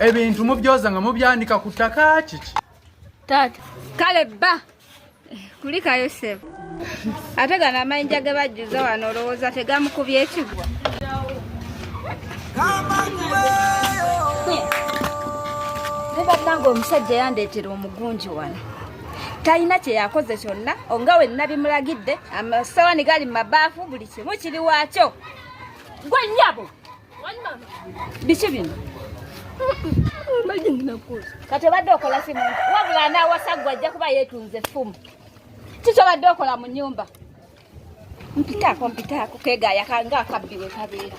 ebintu mubyoza nga mubyanika ku ttaka kiki taata kale bba kulikayo sebo ate gano amayinja ge bajjuza wano olowooza tegamukubya ekigwa nebananga omusajja yandeetera omugunji wano talina kyeyakoze kyonna onga wenna bimulagidde amasawani gali mu mabaafu buli kimu kiri waakyo Gwe nyabo. Biki bino? Kati obadde okola simu wabula anawasa gwe ajja kuba yeetunze ffumu. Kiki obadde okola mu nyumba? Mpitaako mpitaako keegaaya kanga akabbi we kabeera.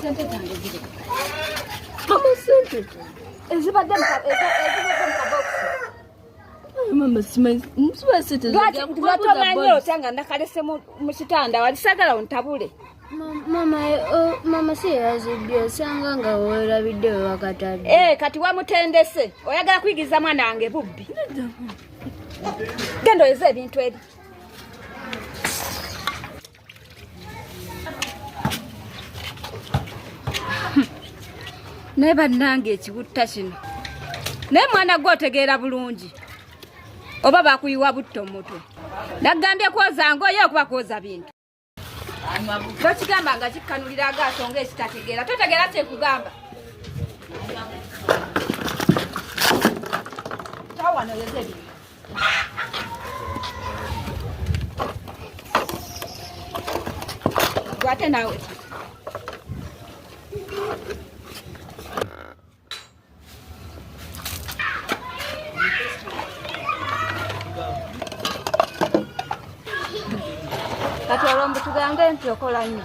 Sente zange ziri. Mama sente. Ezibadde mu kabokisi. lwatomanyi otya nga nakalese mu kitanda wali sagala ontabule mama si yazibbi osanga nga werabidde wewakatadde eh, kati wamutendese oyagala kuyigiriza mwana wange bubbi genda oyeze ebintu eri naye bannange ekibutta kino naye mwana gwe otegeera bulungi oba bakuyiwa butto mutwe nagambye kwoza ngoye okuba kwoza bintu tokigamba nga kikkanulira agaaso nga ekitategeera totegeera kyekugamba tawanoyozebintu Gwate nawe. Kati olwo mbu tugambe nti okola nnyo.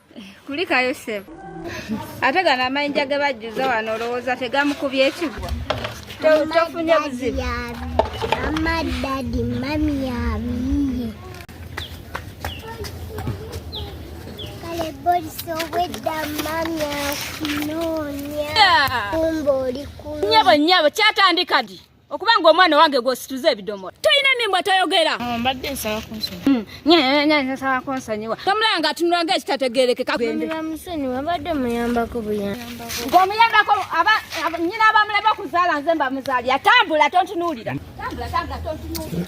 kulikayo sebo ate gano amayinja ge bajjuza wano olowooza tegamukubya ekigwa tofunye buzibu nyabo nyabo kyatandikadi okuba nga omwana wange gwosituza ebidomola tolina mimbo toyogera oh, mbadde nsaba kunsonyiwansaba hmm. kunsonyiwa tomulaba nga atunula nga ekitategerekeka musonyiwa mbadde muyambako buyamba ng'omuyambako nyina abamulaba okuzaala nze mbamuzaali atambula tontunuulira tambula tambula tontunuulira